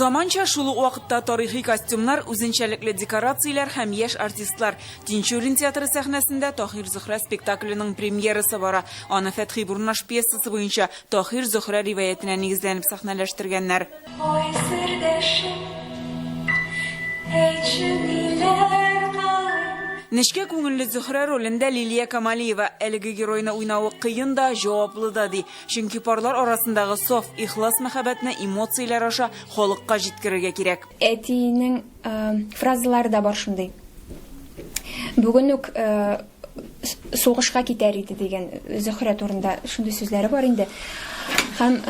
Заманча, шул ук вакытта тарихи костюмнар, үзенчәлекле декорацияләр һәм яшь артистлар. Тинчурин театры сәхнәсендә Таһир-Зөһрә спектакленең премьерасы бара. Аны Фәтхи Бурнаш пьесасы буенча Таһир-Зөһрә риваятенә нигезләнеп сәхнәләштергәннәр. Ой, сердәшем, әйтче, ниләр кылыйм? Нечкә күңелле Зөһрә ролендә Лилия Камалиева әлеге геройны уйнавы кыен да, җаваплы да, ди. Чөнки парлар арасындагы саф, ихлас мәхәббәтне эмоцияләр аша халыкка җиткерергә кирәк. Әтиенең фразалары да бар шундый. Бүген үк сугышка китәр иде дигән Зөһрә турында шундый сүзләре бар инде. Һәм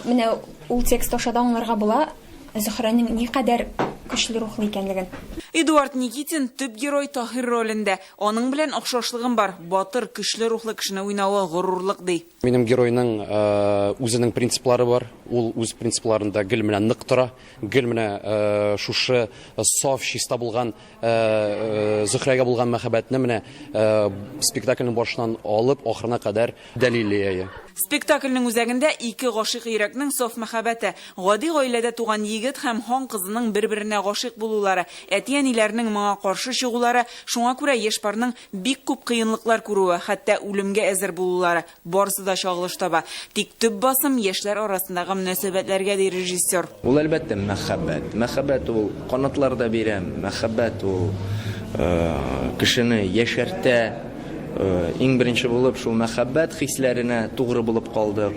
менә ул текст аша да аңларга була Зөһрәнең никадәр көчле рухлы икәнлеген. Эдуард Никитин төп герой Таһир ролендә. Аның белән охшашлыгым бар, батыр, көчле рухлы кешене уйнавы горурлык, ди. Минем геройның үзенең принциплары бар. Ул үз принципларында гел менә нык тора, гел менә шушы саф, чиста булган Зөһрәгә булган мәхәббәтне менә спектакльнең башыннан алып ахырына кадәр дәлиллеяе. Спектакльнең үзәгендә ике гашыйк йөрәкнең саф мәхәббәте, гади гаиләдә туган егет һәм хан кызының бер-беренә гашыйк булулары, әти-әниләренең моңа каршы чыгулары, шуңа күрә яшь парның бик күп кыенлыклар күрүе, хәтта үлемгә әзер булулары, Барысы да чагылыш таба. Тик төп басым, яшьләр арасындагы мөнәсәбәтләргә, ди режиссер. Ул, әлбәттә, мәхәббәт. Мәхәббәт ул канатлар да бирә, мәхәббәт ул кешене яшәртә. Иң беренче булып шул мәхәббәт хисләренә тугры булып калдык.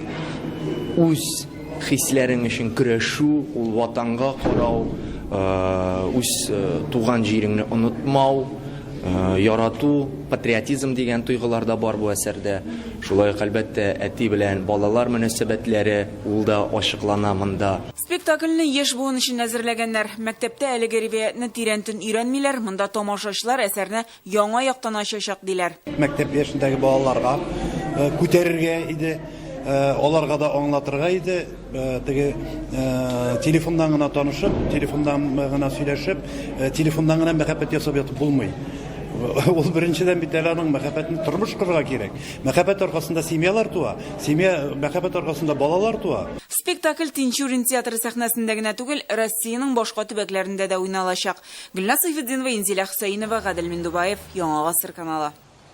Үз. Хисләрең өчен көрәшү, ул Ватанга карау, үз туган җиреңне онытмау, ярату, патриотизм дигән тойгылар да бар бу әсәрдә. Шулай ук, әлбәттә, әти белән балалар мөнәсәбәтләре, ул да ачыклана монда. Спектакльне яшь буын өчен әзерләгәннәр. Мәктәптә әлеге риваятьне тирәнтен өйрәнмиләр, монда тамашачылар әсәрне Яңа яктан ачачак, диләр. Мәктәп яшендәге балаларга күтәрергә иде, аларга да аңлатырга иде. Теге телефоннан гына танышып, телефоннан гына сөйләшеп, телефоннан гына мәхәббәт ясап ятып булмый. Ул беренчедән бит әле аның мәхәббәтен тормыш корырга кирәк. Мәхәббәт аркасында семьялар туа, семья мәхәббәт аркасында балалар туа. Спектакль Тинчурин театры сәхнәсендә генә түгел, Россиянең башка төбәкләрендә дә уйналачак. Гөлназ Сыйфетдинова, Инзилә Хөсәенова, Гадел Миндубаев, Яңа гасыр каналы.